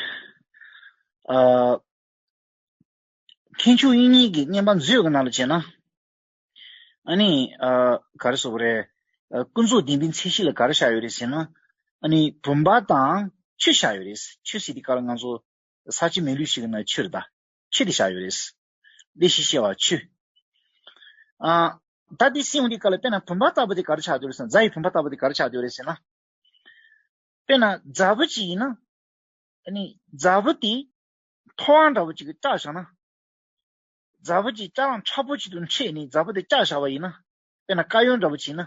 མཁས་འཇུག་དབྱིངས་ཉིད་ཀྱི་བསྙེན་པ་མཛོད་ཀྱི་ནང་ལ་བྱས་ན། ཨཱ་ནི། ག་རེ་སོགས་པ་རེད། ཀུན་རྫོབ་བདེན་པའི་མཚན་གཞི་ལ་ག་རེ་བཞག་ཡོད་རེད་ཟེར་ན། ཨཱ་ནི། བུམ་པ་དང་ཆུ་བཞག་ཡོད་རེད། ཆུ་ཟེར་དེ་ག་ལ་ང་ཚོ་ས་སྤྱི་མེ་ལུས་ཤིག་གི་ནང་ཆུ་རེད་ད། ཆུ་དེ་བཞག་ཡོད་རེད། བདེ་གཤེགས་བཤད་པ་ཆུ། ད་དེ་སེམས་དེ་ག་ལ་དཔེར་ན་བུམ་པ་ལྟ་བུ་དེ་ག་རེ་ཆགས་ཡོད་རེད་ཟེར་ན་རྫ་ཡི་བུམ་པ་ལྟ་བུ་དེ་ག་རེ་ཆགས་ཡོད་རེད་ཟེར་ན། དཔེར་ན་རྫ་བུ་ཅིག་ཡིན་ན། ཨཱ་ནི། རྫ་བུ་དེ་ཐོ་ཨང་འདྲ་བོ་གཅིག་གིས་སྐྲ་བཞག་ན། རྫ་བོ་གཅིག་སྐྲ་རླངས་ཁྲ་བོ་གཅིག་ཏུ་འཕྲད་ནས་རྫ་བོ་དེ་སྐྲ་བཞག་པ་ཡིན་ན། དཔེར་ན་དཀར་ཡོལ་འདྲ་བོ་བྱས་ན།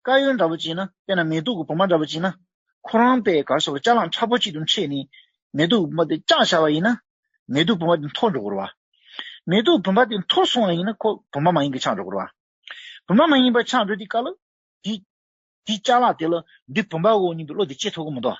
དཀར་ཡོལ་འདྲ་བོ་བྱས་ན་དཔེར་ན་མེ་ཏོག་གི་བུ་མ་འདྲ་བོ་བྱས་ན། ཁོ་རང་པའི་གར་སོགས་ཀྱི་སྐྲ་རླངས་ཁྲ་བོ་གཅིག་ཏུ་འཕྲད་ནས་མེ་ཏོག་གི་བུ་མ་དེ་སྐྲ་བཞག་པ་ཡིན་ན། མེ་ཏོག་བུ་མ་དེ་འཐོར་འགྲོ་དགོས་ར་བ། མེ་ཏོག་བུ་མ་དེ་འཐོར་སོང་བ་ཡིན་ན་ཁོ་བུ་མ་མ་ཡིན་གྱི་ཆགས་འགྲོ་དགོས་ར་བ། བུ་མ་མ་ཡིན་པ་ཆགས་འགྲོ་དེའི་སྐབས་ལ། དེའི་སྐྲ་རླངས་དེ་ལ་འདི་བུ་མ་འོ་སྙམ་པའི་བློ་དེ་སྐྱེ་ཐུབ་ཀྱི་མི་འདུག་ཨ།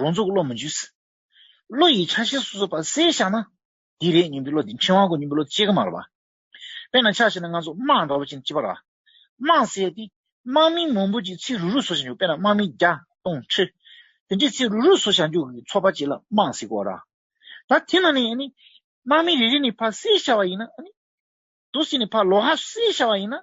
རང་ཚུགས་བློ་མི་འཇུ་སྲིད། བློ་ཡི་ཆ་ཤས་སོ་སོ་བར་གསལ་བཞག་ན། འདི་རེད་སྙམ་པའི་བློ་དེ་མཁས་དབང་གི་སྙིང་པོའི་བློ་གཅིག་གི་མ་རེད་པ། དཔེར་ན་ཆ་ཤས་ནི་སྔ་ཚོགས་དམག་འདྲ་བོ་ཅན་གཅིག་པ་ར། དམག་བསད་དེ། དམག་མིང་མང་པོ་ཅིག་ཚིག་རུ་རུ་བཟོ་བྱ་འཇུག་དཔེར་ན་དམག་མིང་བརྒྱ། སྟོང། ཁྲི། དེ་འདྲའི་ཚིག་རུ་རུ་བཟོ་བྱ་འཇུག་གི་ཚོགས་པ་གཅིག་ལ་དམག་ཟེར་དགོས་ར། ད་དེ་ན་ནི་དམག་མིང་རེ་རེ་ནི་ཕར་གསལ་བྱ་བ་ཡིན་ན། དུ་སི་ནི་ཕར་ལོག་ཧ་གསལ་བྱ་བ་ཡིན་ན།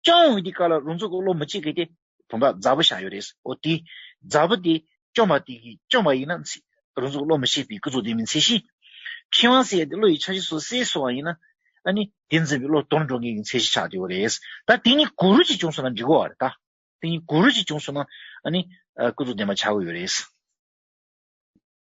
སྐྱོང་བའི་དེ་ཀ་ལ་རུང་ཚོ་ཀོ་ལོ་མི་གཅིག་གི་དེ། བུམ་པ་རྫ་བུ་བཞག་ཡོད་རེད། ཨོ་དེ། རྫ་བུ་དེ། སྐྱོང་བ་དེ་གིས་སྐྱོང་བ་ཡིན་ན། རུང་ཚོ་ཀོ་ལོ་མི་གཅིག་པའི་སྐུ་གཟུགས་དེ་མིན་ཚེ་གཞི། ཁྲི་དབང་སྲས་དེ་བློ་ཡི་ཆ་གཞི་སོ་སའི་སོ་བ་ཡིན་ན། ཨ་ནི། དེ་འཛིན་པའི་བློ་དོར་འགྲོ་མཁན་གྱི་ཚེ་གཞི་ཆགས་ཡོད་རེད། ད་དེ་གཉིས་གུ་རུ་གཅིག་བྱུང་སོང་ན་འགྲིག་གོ་བ་རེད་ད། དེ་གཉིས་གུ་རུ་གཅིག་བྱུང་སོང་ན། ཨ་ནི། སྐུ་གཟུགས་ལྡན་པ་ཆགས་གི་ཡོད་རེད།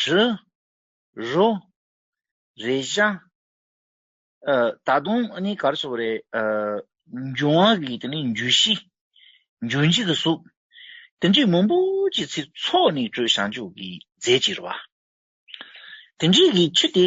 གྲི། རུ། རེ་ཞྭ། ད་དུང་ནི་གར་སོགས་རེ། འབྱུང་བ་གི་དེ་ནི་འཇུ་བཞི། འཇུ་བཞི་གི་གཟུགས། དེ་འདྲའི་མང་པོ་ཅི་ཚིག་ཚོགས་ནི་སྤྲོས་བྱང་ཆུབ་ཀྱི་རྫས་ཀྱི་རུ་བ། དེ་འདྲའི་གི་ཆུ་དེ།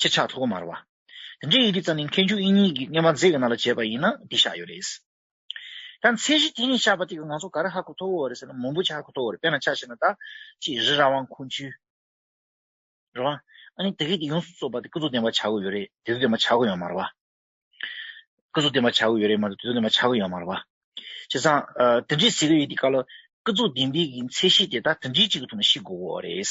ཁྱེད་ཕྱག་ཐོག་མར་བ། དེ་འདྲའི་ཡི་གེ་རྩ་ནི་མཁས་འཇུག་དབྱིངས་ཉིད་ཀྱི་བསྙེན་པ་མཛད་ཀྱི་ནང་ལ་བྱས་པ་ཡིན་ན་འདི་བཞག་ཡོད་རེད། ད་ཚེས་གཞི་དེ་ནས་ཕྱག་པ་ཏིག་གི་ངང་ཚུགས་ག་རེ་ཧ་གོ་ཐོ་བོ་རེད་ཟེར་ན་མུན་པོ་ཆ་ཧ་གོ་ཐོ་བོ་རེད་དཔེར་ན་ཕྱག་བྱས་ན་ད་ཅི་རི་ར་དབང་ཁུང་ཆུའི་ར་བ། ཨ་ནི་དེ་གས་དེ་ཡོངས་སུ་རྩོད་པ་དེ་སྐུ་གཟུགས་ལྡན་པ་བྱ་གོ་ཡོད་རེད་དེ་ཚོ་ལྡན་པ་བྱ་གོ་ཡོད་མ་རེད་བ། སྐུ་གཟུགས་ལྡན་པ་བྱ་གོ་ཡོད་རེད་མ་གཏོགས་དེ་ཚོ་ལྡན་པ་བྱ་གོ་ཡོད་མ་རེད་བ། བྱས་ཙང་དེ་འདྲའི་ཟེར་གྱི་ཡོད་དེ་ག་ལ་སྐུ་གཟུགས་ལྡན་པའི་གི་ཚེས་གཞི་དེ་ད་དེ་འདྲའི་གཅིག་གི་ཐོག་ནས་ཤི་དགོ་བོ་རེད།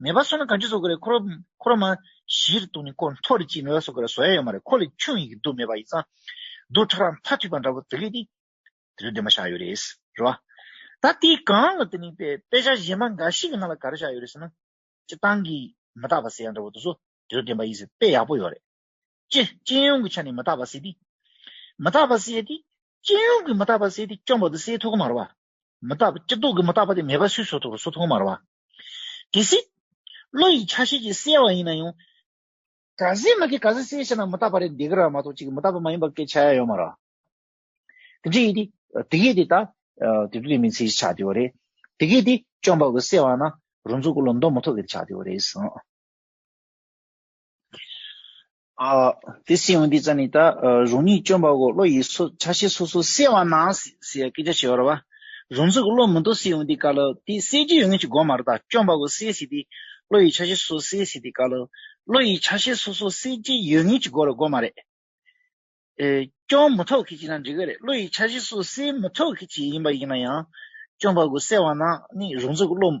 མེད་པ་སོགས་ནི་གང་ཅི་སོགས་ཀྱི་རེ་འཁོར་རོ། མ་གཞིར་གཏོགས་ནི་ཀོ་མཐོ་རི་སྐྱེས་མེད་པ་སོགས་ཀྱི་རེ་བཟོ་ཡ་ཡོད་མ་རེད་ཁོ་ལས་ཁྱུང་ཡི་གེ་རྡུལ་མེད་པ་ཡི་ཚང། རྡུལ་ཕྲ་རགས་མཐའ་ཐུལ་པ་འདྲ་བོ་དེ་ལས་ནི། དེ་ཚོ་འདོད་མ་བཞག་ཡོད་རེད། རེད་བ། ད་དེའི་སྒང་ལ་དེ་ནི་དཔེ་ཆ་གཞན་པ་འགའ་ཞིག་གི་ནང་ལ་ག་རེ་བཞག་ཡོད་རེད་ཟེར་ན། སྤྱི་བཏང་གིས་མི་བརྟག་པ་ཟེར་ཡ་འདྲ་བོ་དེ་ཚོ་དེ་ཚོ་བདེན་པ་ཡིན་ཟེར་དཔེ་ཡག་པོ་ཡོད་རེད། སྤྱི་སྤྱི་ཡོངས་ཀྱི་ཆ་ནས་མི་བརྟག་པ་ཟེར་དུས། མི་བརྟག་པ་ཟེར་དུས། སྤྱི་ཡོངས་ཀྱི་མི་བརྟག་པ་ཟེར་དུས་སྐྱོན་པོ་དེ་སེལ་ཐུབ་གི་མ་རེད་བ། མི་བརྟག་པ་སྤྱི་ལྡོག་གི་མི་བརྟག་པ་དེ་མེད་པ་སུས་བཟོ་ཐུབ་རེད་བཟོ་ཐུབ་གི་མ་རེད་བ། གལ་སྲིད། བློ་ཡི་ཆ་ཤས་ཀྱིས་གསལ་བ་ཡིན་ན་ཡང། ག་ཟེ་མ་གི་ག་ཟེ་གསལ་བྱས་ན་མི་རྟག་པ་རེད་འདི་ག་རང་མ་གཏོགས་ཅིག་མི་རྟག་པ་མ་ཡིན་པ་སྐད་ཆ་ཡ་ཡོད་མ་ར། དེ་འདྲ་ཡིན་ཏེ། དེ་གས་དེ་ད། དེ་དུས་དེ་མིན་ཚེ་ཞེས་བྱ་དེ་བ་རེད། དེ་གས་དེ་བཅོམ་པ་གི་གསལ་བ་ན་རུ་འཛུགས་གོ་ལོ་མདོ་མི་ཐོག་གས་ཏེ་བྱ་དེ་བ་རེད། དེ་སྲིད་ཡང་འདི་ཙམ་ནི་ད་རང་ཉིད་སྐྱོན་པ་གོ་བློ་ཡིས་སོ་ཆ་ཤས་སོ་སོར་སེལ་བ་ན་ཟེར་ཡང་སྐད་ཆ་བྱེ་བར་བ། རང་ཚུགས་བློ་མི་འདོར་སྲིད་ཡང་འདི་དཀའ་ལོ། དེ་སེལ་རྒྱུ་ཡོད་ངེས་ཀྱི་དགོངས་མ་རེད་ད་སྐྱོན་པ་གོ་སེལ་སྲིད་དེ། བློ་ཡིས་ཆ་ཤས་སོ་སོར་སེལ་སྲིད་དེ་དཀའ་ལོ། བློ་ཡིས་ཆ་ཤས་སོ་སོར་སེལ་རྒྱུ་ཡོད་ངེས་ཀྱི་དགོས་རེད་དགོངས་མ་རེད། སྐྱོན་མི་ཐོག་གི་ཅིག་ན་འགྲིག་གི་རེད་བློ་ཡིས་ཆ་ཤས་སོ་སོར་སེལ་མི་ཐོག་གི་ཅིག་ཡིན་པ་ཡིན་ན་ཡང། སྐྱོན་པ་གོ་སེལ་བ་ན་ནི་རང་ཚུགས་བློ།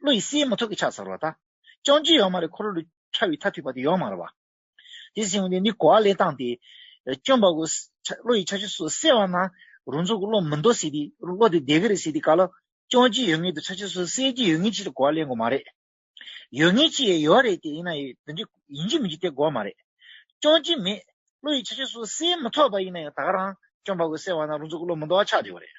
བློ་ཡི་སེའི་མོ་ཐོག་གི་ཕྱག་ཟར་བ་དག། ཅང་ཅི་ཡང་མ་རེག་འཁོར་ལོ་ལུས། ཕྲ་བའི་མཐའ་ཐུལ་བ་དེ་ཡང་མ་རེག་བ། དེ་སྲིང་བ་དེ་ནི་གོ་བ་ལེན་སྟངས་ཏེ། སྐྱོན་འབག་གོ། བློ་ཡི་ཆ་ཤས་སོ་སེ་བ་ན། རུང་ཚོགས་ཀྱི་བློ་མི་འདོར་སྲིད་དེ། བློ་དེ་བདེ་གི་རེད་སྲིད་དེ་ག་ལ། ཅང་ཅི་ཡོད་ངེས་དེ་ཆ་ཤས་སོ་སེ་གྱི་ཡོད་ངེས་ཕྱིར་གོ་བ་ལེན་དགོས་མ་རེད། ཡོད་ངེས་ཕྱི་ཡི་ཡོད་བ་རེད་དེ་ཡིན་ན་ཡིན། འདི་འདྲའི་ཡིན་གྱི་མིན་གྱི་དེ་གོ་བ་མ་རེད། ཅང་ཅི་མེད། བློ་ཡི་ཆ་ཤས་སོ་སེའི་མི་ཐོག་པ་ཡིན་ན་ཡང་དག་རང། སྐྱོན་འབག་གོ་སེ་བ་ན་རུང་ཚོགས་ཀྱི་བློ་མི་འདོར་བ་ཆགས་བྲལ་བ་རེད།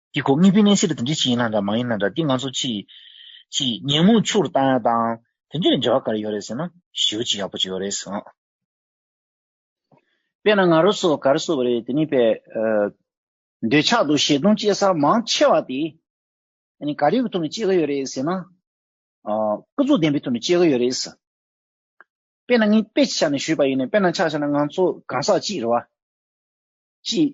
ཀྱི་གོ་ངེས་པའི་གནས་ཚད་ལ་དེ་འདྲའི་ཆེ་ཡིན་ན་འདྲ་མ་ཡིན་ན་འདྲ་དེ་ང་ཚོ་ཕྱིས་ཀྱི་ཉིན་མོ་ཕྱུག་རུ་བཏང་ཡ་དང་དེ་འདྲའི་འབྲེལ་བ་ག་རེ་ཡོད་རེད་ཟེར་ན་ཞེའུ་ཅི་ཡག་པོ་ཅིག་ཡོད་རེད་ཟེར། དཔེར་ན་ང་རོ་སོགས་གར་སོགས་རེད་དེ་ནི་པའི་འདོད་ཆགས་དང་ཞེ་སྡང་སྐྱེ་ས་མང་ཆེ་བ་དེ་ནི་ག་རེའི་ཐོག་ནས་སྐྱེ་གི་ཡོད་རེད་ཟེར་ན། སྐུ་གཟུགས་ལྡན་པའི་ཐོག་ནས་སྐྱེ་གི་ཡོད་རེད། དཔེར་ན་ངས་དཔེ་ཆ་ནས་ཞུས་པ་ཡིན་ནའི་དཔེར་ན་ཆ་ཤས་ན་ང་ཚོ་གང་ཟག་གཅིག་རེད་བ། ཅིག།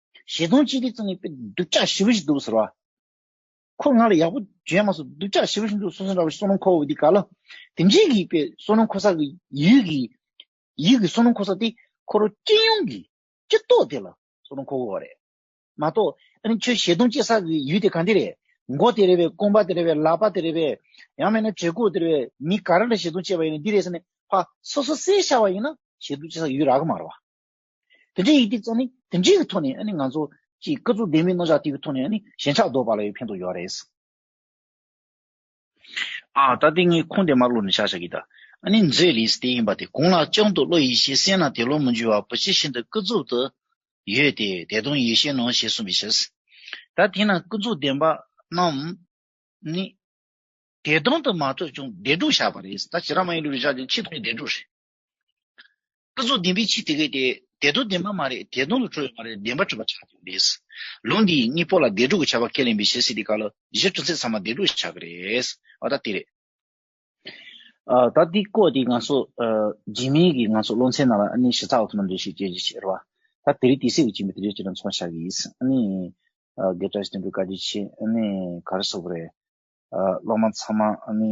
བཞི་སྟོང་གཅིག་ཁྲི་ཙམ་ཡོད་པས་སྡུག་ཅག་ཞི་བ་ཞིག་འདུག་ཟེར་བ། ཁོས་ང་ལ་ཡག་པོ་བརྗོད་མ་སོང་སྡུག་ཅག་ཞི་བ་ཞིག་འདུག་ཟེར་སོང་འདྲ་བའི་སོ་ནམ་ཁོ་བོ་འདི་ག་ལ་དེ་འབྱིན་གྱི་ཡོད་པས་སོ་ནམ་ཁོ་ས་གི་ཡུལ་གྱི་ཡུལ་གྱི་སོ་ནམ་ཁོ་ས་དེ་ཁོ་རང་སྤྱི་ཡོངས་ཀྱི་སྤྱི་ཚོགས་དེ་ལ་སོ་ནམ་ཁོ་བོ་བ་རེད་མ་གཏོགས་ཨ་ནི་ཁྱོད་བཞི་སྟོང་གཅིག་ས་གི་ཡུལ་དེ་གང་དེ་རེད་མགོ་དེ་རེད་བས་རྐང་པ་དེ་རེད་བས་ལག་པ་དེ་རེད་བས་ཡང་མེད་ན་བྲེ་གུག་དེ་རེད་བས་མི་ག་རེ་ལ་བཞི་སྟོང་བཅད་པ་ཡིན་ནི་འདི་རེད་ཟེར་ནས་ཕ་སོ་སོ་སེ་བྱ་བ་ཡིན་ན་བཞི་སྟོང་གཅིག་ས་གི་ཡུལ་རག་གི་མ་རེད་བ། དེ་འདྲའི་ཡི་གེ་བཙལ་ནས་དེ་འདྲའི་ཐོག་ནས་ང་ཚོ་ཀྱི་སྐུ་གཟུགས་བདེན་མིན་རྣོ་ལྕགས་དེའི་ཐོག་ནས་ཞེན་ཆགས་བཟློག་པ་ལ་ཡང་ཕན་ཐོགས་ཡོད་རེད། ཨ། ད་ལྟའི་ངའི་ཁུངས་དེ་མར་ཀློག་ནས་ཆ་བཞག་གི་དང་ཨ་ནི་མཛོད་ལིས་ཏེ་ཡིན་པ་དེ་གང་ལགས་ཀྱང་དུ་བློ་ཡིད་ཤེས་གསལ་ན་དེ་ལོ་མི་འཇུ་བར་བུ་ཇི་བཞིན་དུ་སྐུ་གཟུགས་དུ་ཡོད་དེ་དེ་དོན་ཡིད་ཤེས་ནོ་ཞེས་གསུངས་པའི་ཕྱིར། ད་དེས་ན་སྐུ་གཟུགས་བདེན་པ་རྣམས་ནི། བདེ་སྟོང་དུ་མ་ཐོས་ཀྱང་བདེ་སྡུག་བཞག་པ་རེད། ད་ཇི་རང་མ་ཡིན་ལུས་ལ་བཞག་ཀྱང་ཕྱིས་ཐོག་ནས་བདེ་སྡུག་རེད། སྐུ་གཟུགས་བདེན་པའི་ཕྱིར་དེ་སྐད་དེ། དེ་དོན་བདེན་པ་མ་རེད་དེ་དོན་ལ་འཁྲུལ་བའི་མ་རེད་བདེན་པར་འཁྲུལ་པ་ཆགས་ཀྱི་རེད། ལུང་འདིའི་གཉིས་པོ་ལ་བདེ་དྲུག་གི་ཆ་བ་ཁས་ལེན་པའི་ཞེ་སྲིད་དེ་ག་ལ་གཞི་ཐུན་ཚད་ཚང་མ་བདེ་དྲུག་ཆགས་ཀྱི་རེད། ཨོ་ད་དེ་རེད། ད་འདི་བཀོད་དེ་ང་ཚོ་རྗེས་མིན་གྱི་ང་ཚོ་སློབ་ཚན་ནང་ལ་ཨ་ནི་ཞེ་ཚགས་འོག་ཏུ་ནམ་རེ་ཞིག་སྐྱེ་རྒྱུ་ཞིག་རེད་བ། ད་དེ་རིགས་དེ་སྲིད་དུ་སྐྱེ་མི་དེ་རིགས་ཅི་ལ་མཚུངས་བ་ཆགས་ཀྱི་ཡིན། ཨ་ནི། དགེ་བཀྲ་བསྟན་འགྲོ་བཀའ་དྲིན་ཆེ། ཨ་ནི་ག་རེ་སོགས་པ་རེད། སློབ་མ་ཚང་མ་ཨ་ནི།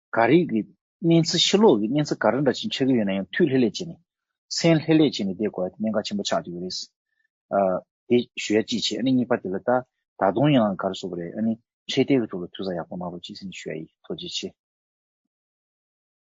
འགའ་རེས་ཀྱི་སྨན་རྩིས་ཕྱི་ལོགས་ཀྱི་སྨན་རྩིས་ག་རེ་འདྲ་ཞིག་འཆད་ཀྱི་ཡོད་ན་ཡང་མཐུད་ལྷེ་ལྷེ་བྱས་ནས། སེམས་ལྷེ་ལྷེ་བྱས་ནས་བསྡད་དགོས་པ་དེ་གནད་འགག་ཆེན་པོ་ཆགས་ཀྱི་ཡོད་རེད། དེ་ཞུ་ཡ་ཅིག་བྱས་ཨ་ནི་གཉིས་པ་དེ་ལ་ད་ད་དུང་ཡང་ག་རེ་བཟོ་གི་རེད་ཨ་ནི་འཕྲེད་དེ་གི་ཐུགས་ལ་ཐུགས་ས་ཡག་པོ་གནང་རོགས་ཅིག་ཟེར་ནས་ཞུ་ཡ་ཡིན་ཐུགས་རྗེ་ཆེ།